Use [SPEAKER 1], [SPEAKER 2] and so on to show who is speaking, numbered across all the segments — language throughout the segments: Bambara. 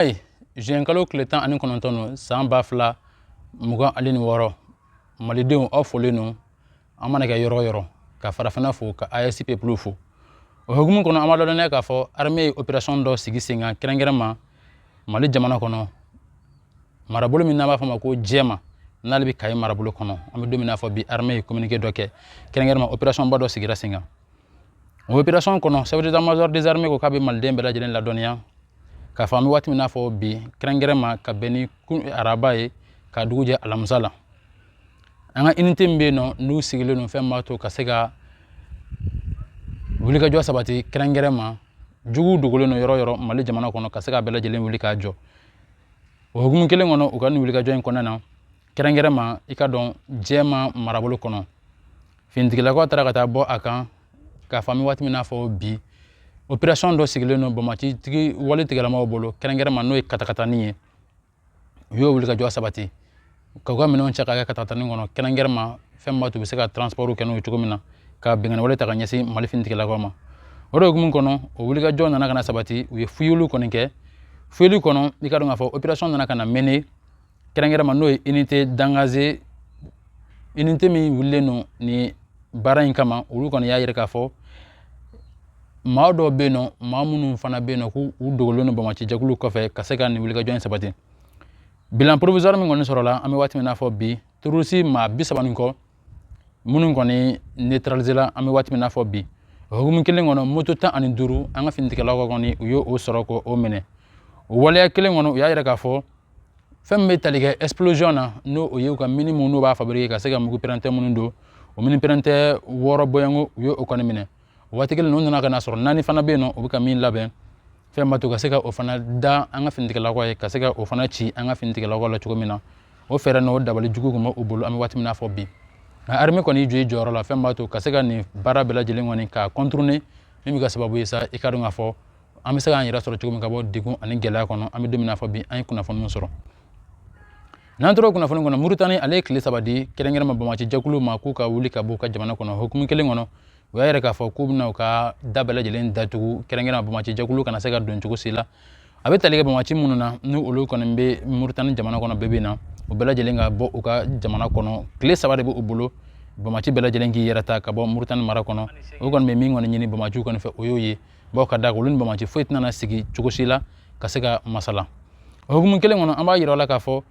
[SPEAKER 1] ayi zuwɛnkalo tile tan ani kɔnɔntɔn don san ba fila mugan ani ni wɔɔrɔ malidenw aw folen don an mana kɛ yɔrɔ o yɔrɔ ka farafinna fo ka asp plus fo o hukumu kɔnɔ an b'a dɔn k'a fɔ arme ye operasɔn dɔ sigi sen kan kɛrɛnkɛrɛn ma mali jamana kɔnɔ marabolo min n'a b'a fɔ ma ko jɛma n'ale bɛ kaye marabolo kɔnɔ an bɛ don min n'a fɔ bi arme ye communiqué dɔ kɛ kɛrɛnkɛrɛn ma opération ba dɔ sigira sen kan o opération kɔnɔ chef d'état major des armées ko k'a bɛ maliden bɛɛ lajɛlen ladɔnniya k'a fɔ an bɛ waati min n'a fɔ bi kɛrɛnkɛrɛn ma ka bɛn ni araba ye ka dugu jɛ alamisa la an ka inite min bɛ yen nɔ n'u sigilen don fɛn b'a to ka se ka wulikajɔ sabati kɛrɛnkɛrɛn ma jugu dogolen don yɔrɔ yɔrɔ mali jamana kɔnɔ ka se ka bɛɛ lajɛlen wuli k'a jɔ o hukumu kelen kɔnɔ u ka nin wulikajɔ in kɔnɔna na kɛrɛnkɛrɛn ma i ka dɔn jɛma marabolo kɔnɔ finitigilakaw taara ka taa bɔ a kan k'a fɔ an bɛ waati min na fɔ bi operasɔn dɔ sigilen don bamaci wale tigilamaw bolo kɛrɛnkɛrɛn ma n'o ye katakatani ye u y'o wulikajɔ sabati ka u ka minɛnw cɛ ka kɛ katakatani kɔnɔ kɛrɛnkɛrɛn ma fɛn min b'a to u bɛ se ka transpɔriw kɛ n'o ye cogo min na ka binkanni wale ta ka ɲɛsin mali finitigilakaw ma o de hukumu kɔnɔ o wulikajɔ nana ka na sabati u ye fuyeliw kɔni kɛ fuyeli kɔnɔ i ka dɔn k'a fɔ operasɔn nana ka na mener kɛrɛnkɛrɛn ma n'o ye unité d'engagé unité min wulilen don ni baara in kama olu kɔni y'a yira k'a fɔ maa dɔw bɛ yen nɔ maa minnu fana bɛ yen nɔ k'u u dogolen don bamaci jɛkulu kɔfɛ ka se ka nin wulikajɔ in sabati bilan provisoire min kɔni sɔrɔla an bɛ waati min n'a fɔ bi tɛrɔrisi maa bi saba ni kɔ minnu kɔni neutraliser la an bɛ waati min n'a fɔ bi o hukumu kelen kɔnɔ moto tan ani duuru an ka finitigilakaw kɔni u y'o sɔrɔ k'o minɛ o waleya kelen kɔnɔ u y'a yira k'a fɔ fɛn min bɛ tali kɛ explosion na n'o o ye u ka mini minnu n'u b'a fabriquer ka se ka mugu pɛrɛnta minnu don o mini pɛrɛnta wɔɔrɔ bɔɲɔnko u ye o kɔni minɛ o waati kelen na u nana ka na sɔrɔ naani fana bɛ yen nɔ u bɛ ka min labɛn fɛn b'a to ka se ka o fana da an ka finitigilakaw ye ka se ka o fana ci an ka finitigilakaw la cogo min na o fɛɛrɛ n'o dabali jugu tun bɛ u bolo an bɛ waati min na fɔ bi nka armée kɔni jɔ i jɔyɔrɔ la fɛn b'a to ka se ka nin baara bɛɛ lajɛlen kɔni k'a contourner min bɛ kɛ sababu ye sa i ka dɔn k'a fɔ an bɛ se k'an yɛrɛ sɔrɔ cogo min ka bɔ degun ani gɛlɛya kɔnɔ an bɛ don min na fɔ bi an ye kunnafoni min sɔrɔ n'an tora kunnafoni kɔnɔ muritani ale ye tile saba di kɛrɛnkɛrɛn ma bamaci jɛkulu ma k'u ka wuli ka bɔ u ka jamana kɔnɔ hukumu kelen kɔnɔ u y'a yira k'a fɔ k'u bɛna u ka da bɛɛ lajɛlen datugu kɛrɛnkɛrɛn ma bamaci jɛkulu kana se ka don cogo si la a bɛ tali kɛ bamaci minnu na ni olu kɔni bɛ muritani jamana kɔnɔ bɛɛ bɛ na u bɛɛ lajɛlen ka bɔ u ka jamana kɔnɔ tile saba de bɛ u bolo bamaci bɛɛ lajɛlen k'i yɛrɛ ta ka bɔ muritani mara kɔnɔ o kɔni bɛ min kɔni ɲini bamaciw kɔni fɛ o y'o ye bawo ka da olu ni bamaci foyi tɛna sigi cogo si la ka se ka masala o hukumu kelen kɔnɔ an b'a yira aw la k'a fɔ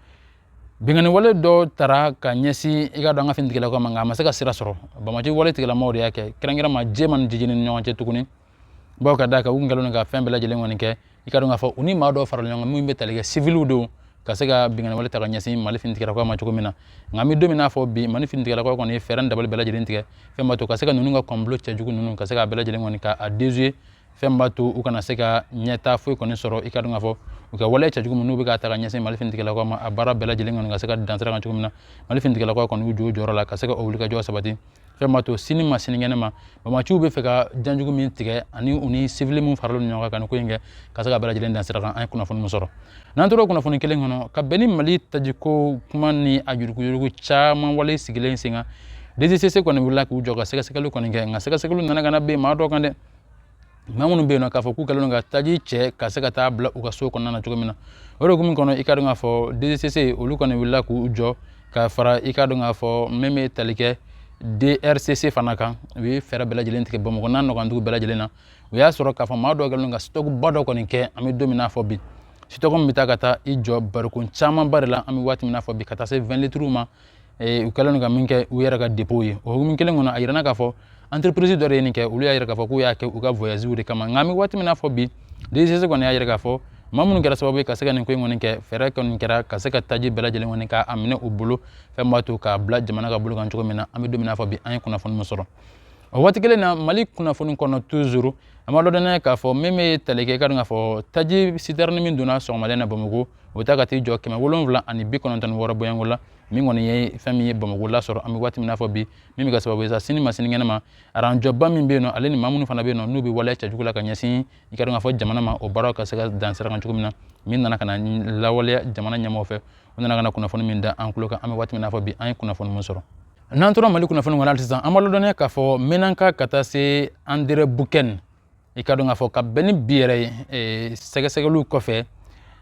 [SPEAKER 1] binkanni wale dɔ tara ka ɲɛsin i ka dɔn an ka finitigilakaw ma nka a ma se ka sira sɔrɔ bamaci wale tigilamaw de y'a kɛ kɛrɛnkɛrɛn ma jɛma ni jijɛni ni ɲɔgɔn cɛ tuguni bawo ka d'a kan u kun kɛlen don ka fɛn bɛɛ lajɛlen kɔni kɛ i ka dɔn k'a fɔ u ni maa dɔw farala ɲɔgɔn kan minnu bɛ tali kɛ sivili dɔw ka se ka binkanni wale ta ka ɲɛsin mali finitigilakaw ma cogo min na nka an bɛ don min n'a fɔ bi mali finitigilakaw kɔni ye fɛɛrɛ dabali bɛɛ lajɛlen tigɛ fɛn b'a to ka se ka ninnu ka complot cɛjugu ninnu ka se k'a bɛɛ lajɛlen kɔni ka a dezuye fɛn b'a to u kana se ka ɲɛta foyi kɔni sɔrɔ i ka dɔn k'a fɔ u ka waleya cɛjugu min n'u bɛ ka ta ka ɲɛsin mali finitigilakaw ma a baara bɛɛ lajɛlen kɔni ka se ka dan sira kan cogo min na mali finitigilakaw kɔni y'u jɔ u jɔyɔrɔ la ka se ka o wulikajɔ sabati fɛn b'a to sini ma sinikɛnɛ ma banbaanciw bɛ fɛ ka janjugu min tigɛ ani u ni sivili minnu faralen don ɲɔgɔn kan ka nin ko in kɛ ka se k'a bɛɛ lajɛlen dan sira kan an ye kunnafoni min sɔrɔ n'an tora kunnafoni kelen kɔnɔ ka bɛn ni mali tajiko kuma ni a yuruguyurugu caman wale sigilen sen kan dgcc kɔni wulila k'u jɔ ka sɛgɛsɛgɛli kɔni kɛ nka sɛgɛsɛgɛliw nana ka na bɛn maa dɔ kan dɛ maa minnu bɛ yen nɔ k'a fɔ k'u kɛlen don ka taji cɛ ka se ka taa bila u ka so kɔnɔna na cogo min na o de hukumu kɔnɔ i ka dɔn k'a fɔ dgcc olu kɔni wulila k'u jɔ ka fara i ka dɔn k'a fɔ min bɛ tali kɛ drcc fana kan u ye fɛɛrɛ bɛɛ lajɛlen tigɛ bamakɔ n'a nɔkandugu bɛɛ lajɛlen na o y'a sɔrɔ k'a fɔ maa dɔw kɛlen don ka sitɔkuba dɔ kɔni kɛ an bɛ don min n'a fɔ bi sitɔku min bɛ taa ka taa i jɔ barikon camanba de la an bɛ waati min n'a fɔ bi ka taa se 20 litiriw ma ee u kɛlen don ka min kɛ u yɛrɛ ka depow ye o hukumu kelen kɔnɔ a yirana k'a fɔ entreprise dɔ de ye nin kɛ olu y'a yira k'a fɔ k'u y'a kɛ u ka voyagew de kama nka an bɛ waati min na fɔ bi dgcc kɔni y'a yira k'a fɔ maa minnu kɛra sababu ye ka se ka nin ko in kɔni kɛ fɛɛrɛ kɔni kɛra ka se ka taji bɛɛ lajɛlen kɔni k'a minɛ u bolo fɛn b'a to k'a bila jamana ka bolo kan cogo min na an bɛ don min na fɔ bi an ye kunnafoni min sɔrɔ o waati kelen na mali kunnafoni kɔnɔ tuzuru an b'a lɔdɔnniya k'a fɔ min bɛ tali kɛ ka dɔn k'a fɔ taji sitɛrɛni min donna sɔgɔmada in na bamakɔ o ta ka t'i jɔ kɛmɛ wolonwula ani bi kɔnɔntɔn ni wɔɔrɔ bɔɲɔgɔnko la min kɔni ye fɛn min ye bamakɔ lasɔrɔ an bɛ waati min n'a fɔ bi min bɛ kɛ sababu ye sa sini ma sini kɛnɛ ma aranjɔba min bɛ yen nɔ ale ni maa minnu fana bɛ yen nɔ n'u bɛ waleya cɛjugu la ka ɲɛsin i ka dɔn k'a fɔ jamana ma o baaraw ka se ka dan sira kan cogo min na min nana ka na lawaleya jamana ɲɛmɔgɔ fɛ u nana ka na kunnafoni min da an tulo kan an bɛ waati min n'a fɔ bi an ye kunnafoni min sɔrɔ n'an tora mali kunnafoni kɔnɔ hali sisan an b'a lɔdɔnniya k'a fɔ mɛnanka ka taa se anderanbukan i ka dɔn k'a fɔ ka bɛn ni bi yɛrɛ sɛgɛsɛgɛliw kɔfɛ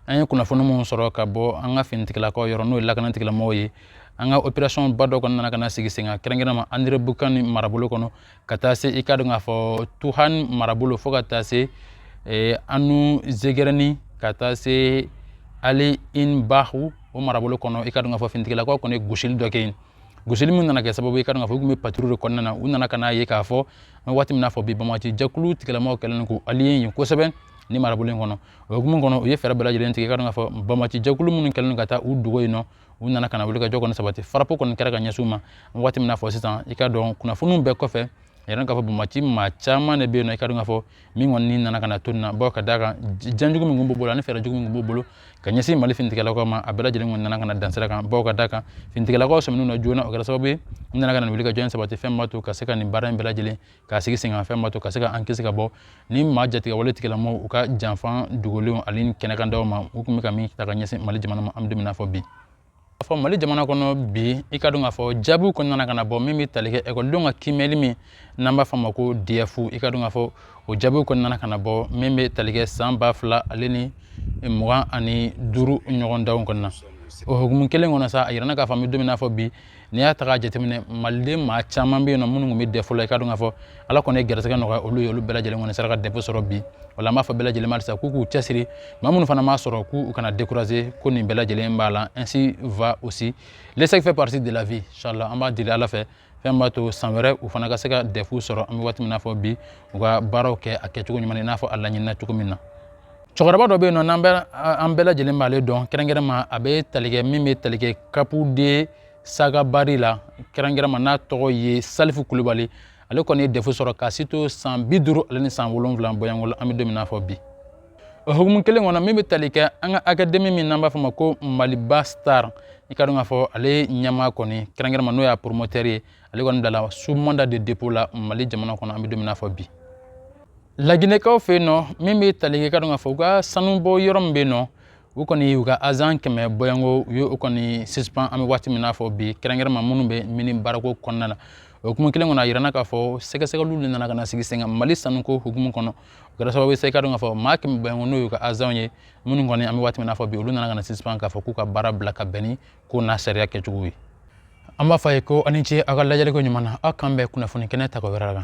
[SPEAKER 1] an ye kunnafoni minnu sɔrɔ ka bɔ an ka finitigilakaw yɔrɔ n'o ye lakanatigilamɔgɔw ye an ka operasɔn ba dɔ kɔni nana ka na sigi sen kan kɛrɛnkɛrɛnma anderanbukan marabolo kɔnɔ ka taa se i ka dɔn k'a fɔ tuhan marabolo fo ka taa se anu zegɛrɛni ka taa se ali in bahu o marabolo kɔnɔ i ka dɔn k'a fɔ finitigilakaw kɔni ye gosili dɔ kɛ yen gosili min nana kɛ sababu ye i ka dɔn k'a fɔ u tun bɛ patrouille de kɔnɔna na u nana ka n'a ye k'a fɔ an bɛ waati min n'a fɔ bi banbaanci jɛkulu tigilamaaw kɛlen don k'u aliye yen kosɛbɛ ni marabolo in kɔnɔ o hukumu kɔnɔ u ye fɛɛrɛ bɛɛ lajɛlen tigɛ ka dɔn k'a fɔ banbaanci jɛkulu minnu kɛlen don ka taa u dogo yen nɔ u nana ka na wulikajɔ kɔni sabati farapu kɔni kɛra ka ɲɛsin u ma waati min n'a fɔ sisan i ka dɔn kunnafoniw bɛɛ kɔfɛ a yira k'a fɔ banbaanci maa caman de bɛ yen nɔ i ka dɔn k'a fɔ min kɔni ni nana ka na to nin na bawo ka d'a kan janjugu min kun b'u bolo ani fɛɛrɛ jugu min kun b'u bolo ka ɲɛsin mali finitigilakaw ma a bɛɛ lajɛlen kɔni nana ka na dan sira kan bawo ka d'a kan finitigilakaw sɔmin'u na joona o kɛra sababu ye u nana ka na wuli ka jɔ in sabati fɛn b'a to ka se ka nin baara in bɛɛ lajɛlen k'a sigi sen kan fɛn b'a to ka se ka an kisi ka bɔ nin maa jatigɛwale tigilamɔgɔw u ka janfan dogolenw ani kɛnɛkandaw ma u tun bɛ ka min ta ka ɲɛsin mali jamana ma an bɛ don min na fɔ bi A fɔ mali jamana kɔnɔ bi i ka dɔn k'a fɔ jaabiw kɔni nana ka na bɔ min bɛ tali kɛ ekɔlidenw ka kiimɛli min n'an b'a fɔ a ma ko dɛfu i ka dɔn k'a fɔ o jaabiw kɔni nana ka na bɔ min bɛ tali kɛ san ba fila ale ni mugan ani duuru ɲɔgɔndanw kɔnɔna o hukumu kelen kɔnɔ sa a yirana k'a fɔ an bɛ don min na fɔ bi n'i y'a ta k'a jateminɛ maliden maa caman bɛ yen nɔ minnu tun bɛ dɛfu la i ka dɔn k'a fɔ ala kɔni ye gɛrɛsɛgɛ nɔgɔya olu ye olu bɛɛ lajɛlen kɔni sera ka dɛfu sɔrɔ bi o la an b'a fɔ bɛɛ lajɛlen ma halisa k'u k'u cɛsiri maa minnu fana m'a sɔrɔ k'u kana décourager ko nin bɛɛ lajɛlen b'a la ainsi va aussi l'échec fait partie de la vie inchallah an b'a deli ala fɛ fɛn b'a to san wɛrɛ u fana ka se ka dɛfu sɔrɔ an bɛ waati min na fɔ bi u ka baaraw kɛ a kɛcogo ɲuman i n'a fɔ a laɲinina cogo min na cɛkɔrɔba dɔ bɛ yen nɔ an bɛɛ lajɛlen b'ale dɔn kɛrɛnkɛrɛnma a bɛ tali kɛ min bɛ tali kɛ kapu de sagabari la kɛrɛnkɛrɛnma n'a tɔgɔ ye salifu kulubali ale kɔni ye dɛfu sɔrɔ k'a si to san bi duuru ale ni san wolonwula bɔɲɔgɔnko la an bɛ don min na fɔ bi o hukumu kelen kɔnɔ min bɛ tali kɛ an ka akademi min n'an b'a fɔ o ma ko maliba star i ka dɔn k'a fɔ ale ɲɛmaa kɔni kɛrɛnkɛrɛnma n'o y'a poromotɛri ye ale kɔni bilala sous mandat de dépôt la mali jamana kɔnɔ an bɛ don min na fɔ bi laginɛkaw fɛ yen nɔ min bɛ tali kɛ ka dɔn k'a fɔ u ka sanubɔ yɔrɔ min bɛ yen nɔ u kɔni u ka azan kɛmɛ bɔɲɔnko u ye o kɔni suspend an bɛ waati min na fɔ bi kɛrɛnkɛrɛnma minnu bɛ mini baarako kɔnɔna na o hukumu kelen kɔnɔ a yirana k'a fɔ sɛgɛsɛgɛliw de nana ka na sigi sen kan mali sanuko hukumu kɔnɔ o kɛra sababu ye sa i ka dɔn k'a fɔ maa kɛmɛ bɔɲɔnko n'o y'u ka azanw ye minnu kɔni an bɛ waati min na fɔ bi olu nana ka na suspend k'a fɔ k'u ka baara bila ka bɛn ni ko n'a sariya kɛcogo ye an b'a fɔ aw ye ko aw ni ce aw ka lajɛliko ɲuman na aw k'an bɛn kunnafoni kɛnɛ tako wɛrɛ la